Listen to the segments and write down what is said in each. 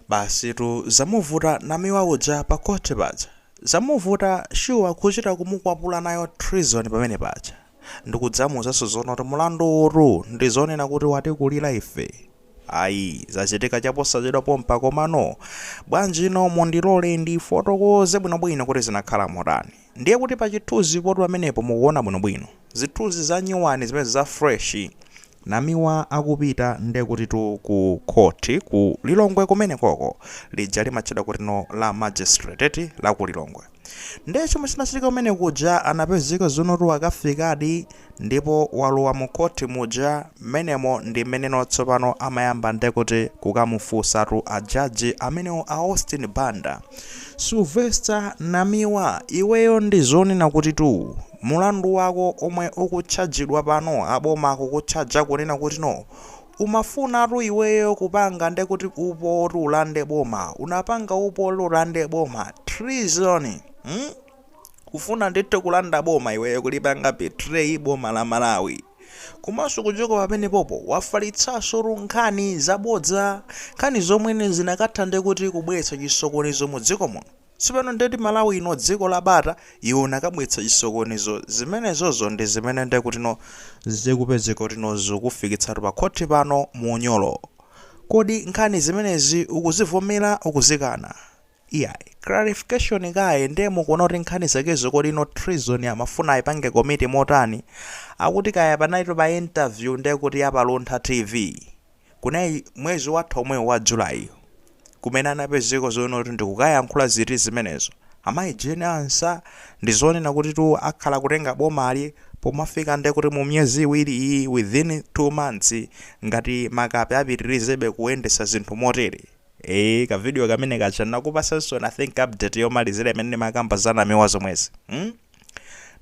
Basitu zamuvuta namiwa uja pa court paja zamuvuta shuwa kuchita kumukwapula nayo treason pamene paja ndikudzamuuzaso zoona kuti mulandu uwutu ndizonena kuti watikulira ife iyayi zachitika chaposachedwa pompa komano bwanjino mundilore ndifotokoze bwinobwino kuti zinakhala motani. Ndiye kuti pa chithunzi potu pamenepo mukuona bwinobwino. Zithunzi za nyuwani zimenezi za fresh. Namiwa akupita ndiye kutitu ku court ku Lilongwe kumenekoko. Lija limatchedwa kuti no la magistrate eti la ku Lilongwe. Ndiye chomwe chinachitika kumene kuja anapezeka zonotu akafikadi. ndipo walowa mu court muja mmenemo ndi mmeneno tsopano amayamba ndekuti kukamufunsatu a judge amenewo a Austin Banda Sylvester Namiwa iweyo ndi zonena kuti tu mulandu wako omwe ukutchajidwa pano aboma akukutchaja kunena kuti no umafunatu iweyo kupanga ndekuti upo oti ulande boma unapanga upo oti ulande boma treason hmm? kufuna ndithu kulanda boma iweyo kulipanga betray boma la malawi komanso kuchoka pamenepopo wafalitsansotu nkhani zabodza nkhani zomwe zinakatha nde kuti kubweretsa chisokonezo mu dziko muno tsopano ndeti malawi ino dziko la bata iwe unakabweretsa chisokonezo zimenezozo ndi zimene nde kutino zikupezeka kutino zikukufikitsatu pa khoti pano mu unyolo kodi nkhani zimenezi ukuzivomera ukuzikana Iyayi. Clarification kaye nde mukuona kuti nkhani zakezo kodi no treason amafuna aipange komiti motani? Akuti kaya anaitu pa interview nde kuti ya pa Luntha TV. Kunayi mwezi watha omwewu wa July. Kumene anapezeka zoona kuti ndikukayankhula ziti zimenezo. Amayi Jane Ansah ndi zonena kutitu akhala kutenga bomali pomafika nde kuti mu miyezi iwiri iyi within two months ngati Mutharika apitirizebe kuyendetsa zinthu motere. Eee ka video kamene kaja ndinakupatsanso I think update yomalizira imene ndimakamba za namiwa zomwezi mm?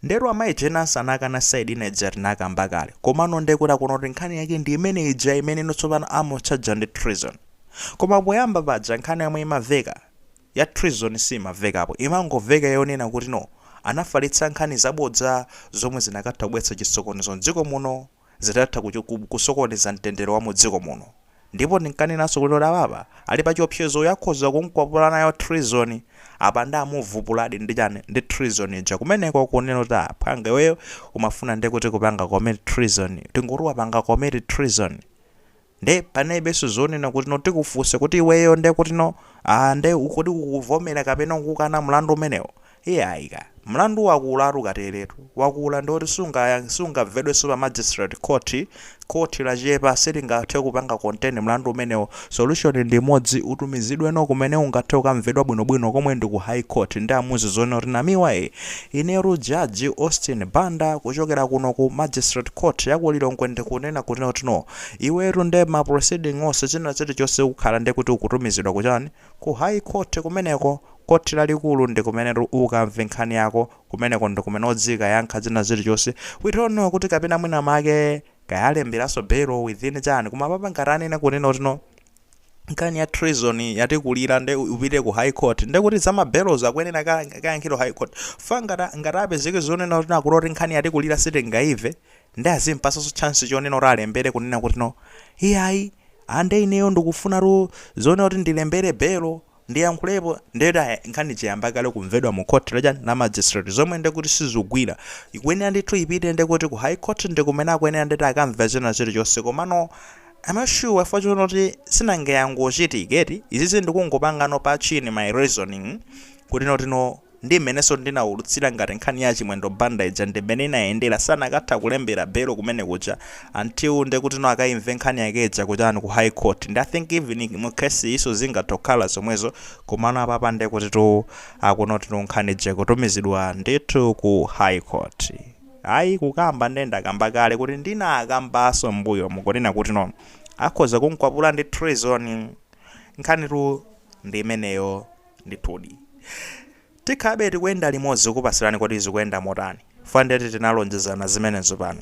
ndero amayi Jane Ansah anakana side ina ija tinakamba kale komano nde mukuona kuti nkhani yake ndi imene ija imene ino tsopano amutchaja ndi treason koma poyamba paja nkhani yomwe imaveka ya treason simavekapo imangoveka yonena kuti no anafalitsa nkhani zabodza zomwe zinakatha kubweretsa chisokonezo mdziko muno zinakatha kusokoneza mtendere wa mu dziko muno. Ndipo ndinkanenanso kuti apapa ali pa chiopsezo uyu akhoza kumkwapula nayo treason. Apa nde amuvupuladi ndi chani? Ndi treason ija kumeneko kunena kuti ah phwanga iweyo umafuna nde kuti kupanga commit treason. Tingoti wapanga commit treason. nde panalibenso zonena kutino tikufunse kuti iweyo nde kutino aah nde kodi ukuvomera kapena ukukana mlandu umenewo iyayi ka mlandu wakulatu, kuterotu wakula ndioti sungayang sungamvedwenso pa magistrate court court lachepa silingathe kupanga contain mlandu umenewo solution ndi imodzi utumizidweno kumene ungathe kukamvedwa bwinobwino komwe ndi ku high court nde amuuze zonena kuti Namiwa ee inetu Judge Austin Banda kuchokera kuno ku magistrate court ya ku Lilongwe ndikunena kutino tino Iwetu nde ma proceeding onse china chilichonse ukhala nde kuti ukutumizidwa ku chani? Ku high court kumeneko, khothi lalikulu ndikumenetu ukamve nkhani yako, kumeneko ndikumene udzikayankha china chilichonse, we don't know kuti kapena mwina make kaya alemberanso bail within chani koma apapa ngati anena kunena kuti no nkhani ya treason yatikulira nde upite ku high court nde kuti za ma bail'zo akuyenera akayankhidwe high court chifukwa ngati ngati atapezeke zonena kuti no akuti oti nkhani yatikulira sitingaimve Nde azimpasanso chance chonena kuti alembere kunena kuti no iyayi aa nde ineyo ndikufunatu zonena kuti ndilembere belo ndiyankhulepo nde kuti aya nkhani ija yayamba kale kumvedwa mu court la chani la magistrate zomwe nde kuti sizikugwira ikuyenera ndithu ipite nde kuti ku high court ndi kumene akuyenera ndeti akamve china chilichonse komano I'm not sure chifukwa chonena kuti sinanga yangochitika eti izizi ndikungopangano pa chini my reasoning kuti no kuti no Ndi mmenenso ndinaulutsira ngati nkhani ya a Chimwendo Banda ija ndi mmene inayendera sanakathe kulembera belo kumene kuja until ndekutino akaimve nkhani yake ija kuchani ku high court ndi I think even mu case iyinso zingathe kukhala zomwezo komano apapa ndekutitu akuti notino nkhani ija ikutumizidwa ndithu ku high court ayi kukamba nde ndakamba kale kuti ndinakambanso mmbuyomu kunena kutino akhoza kumkwapula ndi treason nkhanitu ndi imeneyo Ndithudi. Tikhalabe tikuyenda limodzi kukupatsirani kuti zikuyenda motani. Fwa ndeti tinalonjezana zimenezo pano.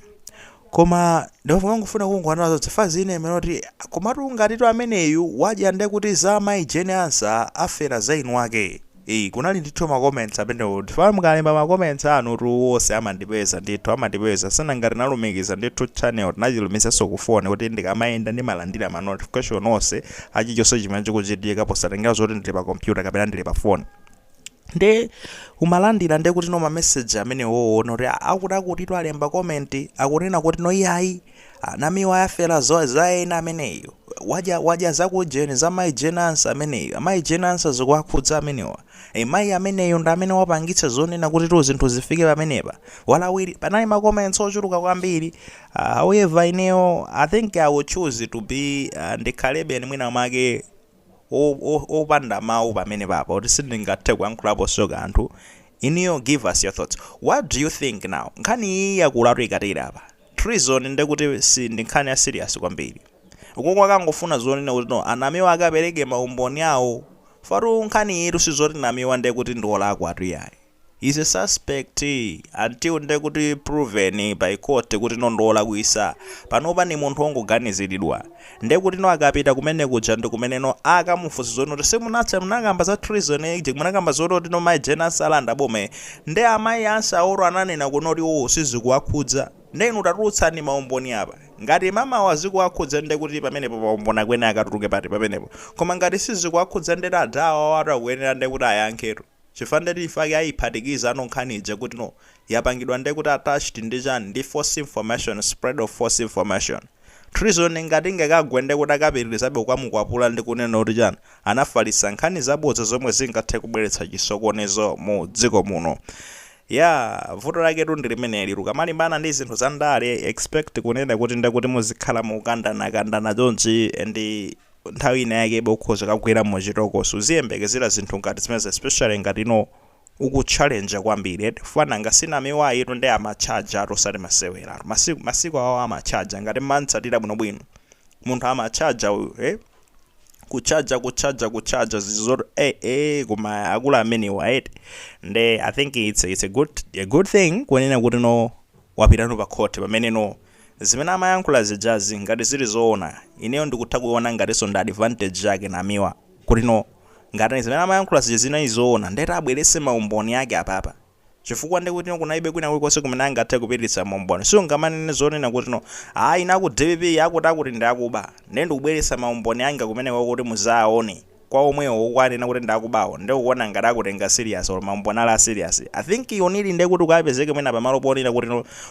Koma ndimangofuna kungoona zonse fwa zina zimenoti komatu ngatitu ameneyu wadya, ndekuti za mayi Jane Ansah afera za eni ake eeh kunali ndithu ma comments amenewo chifukwa mukalemba ma comments anutu onse amandipeza ndithu amandipeza sinanga tinalumikiza ndithu channel tinachilumikizanso ku phone kuti ndikamayenda ndimalandila ma notification onse a chilichonse chimene chikuchitika posatengera zoti ndili pa kompyuta kapena ndili pa foni nde umalandira nde kuti no mameseji amene woona kuti "Ah, akuti akutitu alemba komenti akunena kuti no iyayi a Namiwa ayi afera zo- za ena ameneyo wadya wadya zakujeni za mayi Jane Ansah ameneyo amayi Jane Ansah zikuwakhudza amenewa Ee mayi ameneyu ndi amene wapangitsa zonena kutitu zinthu zifike pamenepa. Walawila, panali ma comments ochuluka kwambiri. Uh, however ineyo I think I will choose to be uh, ndikhalebe nii mwina mwake o- o- opanda mawu pamenepapa kuti sindingathe kuyankhulaponso kanthu. Inuyo give us your thoughts. What do you think now? Nkhani iyi yakulatu ikatere apa. Treason nde kuti si ndi nkhani ya serious kwambiri? Ukoko akungofuna zonena kuti no Namiwa akapereke ma umboni awo. Chifukwa tu nkhani iyitu si zoti Namiwa nde kuti ndi olakwa tu iyayi. He is a suspect until nde kuti proven by court kuti no ndi olakwisa. Panopa ndi munthu ongoganiziridwa. Ndekutino akapita kumene kuja ndikumene-no akamufunse zonoti si munati munakamba za treason munakamba zoti otino mai Jane Ansah alanda boma ii nde amai Ansah awo ananena kuti noti iwowo sizikuwakhudza nde inu tatulutsani maumboni apa ngati mai awa zikuwakhudza ndekuti pamenepo maumboni akuyenera akatuluke pati pamenepo koma ngati sizikuwakhudza nde adha awawatu akuyenera ndekuti ayankhetu. Chifukwa ndeti ifeyo ake ayiphatikiza no nkhani ija kuti no yapangidwa nde kuti attached ndi chani ndi false information, spread of false information treason ngati ingakagwe nde kuti akapitilizabe kukamukwapula ndi kunena kuti chani anafalitsa nkhani zabodza zomwe zingathe kubweretsa chisokonezo mu dziko muno yaa vuto laketu ndi limeneli ukamalimbana ndi zinthu za ndale expect kunena kuti nde kuti muzikhala mukukandana kandana chonchi and nthawi ina yake iwe ukhoza kukagwera mu chitokosi uziyembekezera zinthu ngati zimenezo especially ngati no uku challenge kwambiri eti fwa nanga si Namiwa uyutu ndi amachajatu osati maseweratu masiku awo amachaja ngati mmantsatira bwino bwino munthu amachaja uyu eh kuchaja kuchaja kuchaja zizoti eh eh koma akula amenewa eti nde i think it's, it's a good a good thing kunena kuti no wapitano pa court pamene no Zimene amayankhula zijazi ngati zili zoona ineyo ndikutha kuiona ngatinso ndi advantage yake Namiwa kuti no ngati zimene amayankhula zija zinali zoona ndekuti abweretse maumboni ake apapa chifukwa ndekuti no kunalibe kwina kulikonse kumene angathe kupititsa maumboni siungamanene zonena kuti no ayi ine aku dpp akuti akuti ndi akuba nde ndikubweretsa maumboni anga kumeneko kuti muzaaone kwa omwewo ukuwanena kuti ndakubawo nde ukuona ngati akutenga serious or maumboni ali a serious? I think you need nde kuti ukapezeke mwina pamalo ponena kuti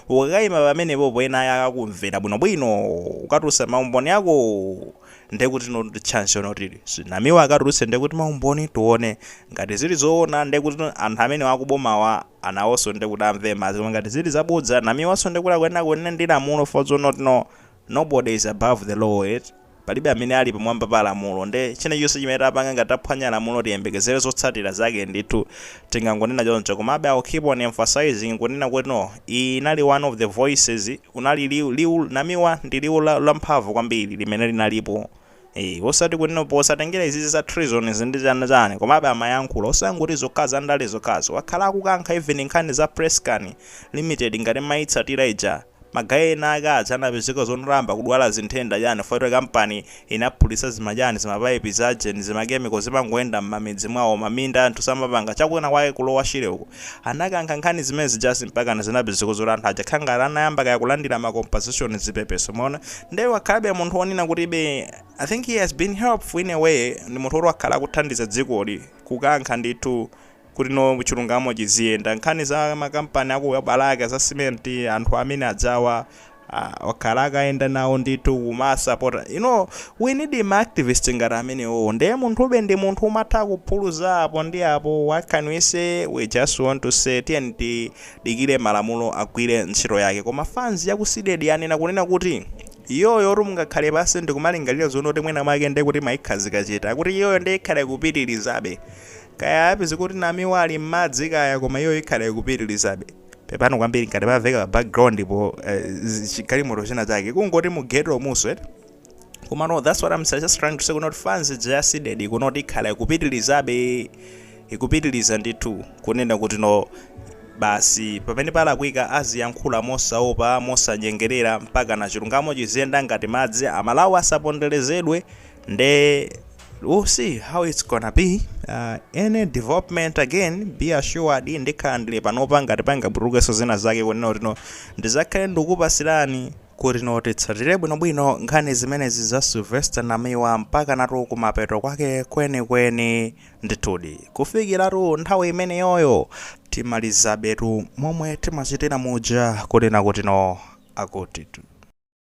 ukakaima pamenepopo ena ake akakumvera bwinobwino ukatulutsa maumboni akowo nde kuti chance yonena kuti Namiwa akatulutse nde kuti maumboni tione ngati zili zoona nde kuti anthu amenewo akubomawa nawonso nde kuti amve madzi koma ngati zili zabodza Namiwanso nde kuti akuyenera kunena ndi lamulo for now Nobody is above the law eti? Palibe amene ali pamwamba pa lamulo nde china chilichonse chimene tapanga ngati taphwanya lamulo tiyembekezere zotsatira zake ndithu. Tingangonena choncho komabe I'll keep on emphasizing kunena kuti no, iyi inali one of the voices, unali liwu, liwu, Namiwa ndi liwu la, lamphamvu kwambiri limene linalipo. Eee osati kunena posatengera izizi za treason izi ndi chani chani komabe amayankhula osangoti zokha za ndale zokhazo wakhala akukankha even nkhani za PressCane limited ngati mmayitsatira ija ma guy ena ake aja anapezeka zoti anayamba kudwala zimatenda chani chifukwa choti company inaphulitsa zima chani zima pipe za geni zima chemical zimangoyenda mmamidzi mwawo maminda anthu samapanga cha kwina kwake kulowa shire uko Anakankha nkhani zimene zija mpakana zinapezeka zoti anthu aja kukhala ngati anayamba kaya kulandira ma compensation zipepeso mwaona nde wakhalabe munthu onena kuti be I think he has been helpful in a way ndi munthu oti wakhala akuthandiza dzikoli, kukankha ndithu kuti no chilungamo chiziyenda nkhani za makampani aku Balaka za cement anthu amene ajawa Aaa wakhala akayenda nawo ndithu kumawasapota you know we need ma activist ngati amenewowo nde munthube ndi munthu umatha kuphuluza apo ndi apo what can we say we just want to say tiyeni tidikire malamulo agwire ntchito yake koma fans ya ku CDEDI yanena kunena kuti iyoyotu mungakhale pansi ndikumalingalira zonena kuti mwina mwake nde kuti mwayikhazika chete akuti iyoyo nde ikhala ikupitilizabe kaya apezeka kuti Namiwa ali m'madzi kaya koma iyoyo ikhala ikupitilizabe pepani kwambiri ngati paveka pa background po eh, zi- chi- galimoto china chake kungoti mu ghetto muno eti koma no that's what i'm just trying to say kunoti fans ya ku CDEDI ikunoti ikhala ikupitilizabe ikupitiliza ndithu kunena kuti no basi pamene palakwika aziyankhula mosaopa mosanyengerera mpakana chilungamo chiziyenda ngati madzi aMalawi asaponderezedwe nde we'll see how it's gonna be uh, any development again be assured ndikhala ndili panopa ngati pangatulukenso zina zake kunena kuti no ndizakhale ndikupasirani kuti no titsatire bwinobwino nkhani zimenezi za Sylvester Namiwa mpakanatu kumapeto kwake kwenikweni ndithudi kufikiratu nthawi imeneyoyo timalizabetu momwe timachitira muja kunena kuti no akutitu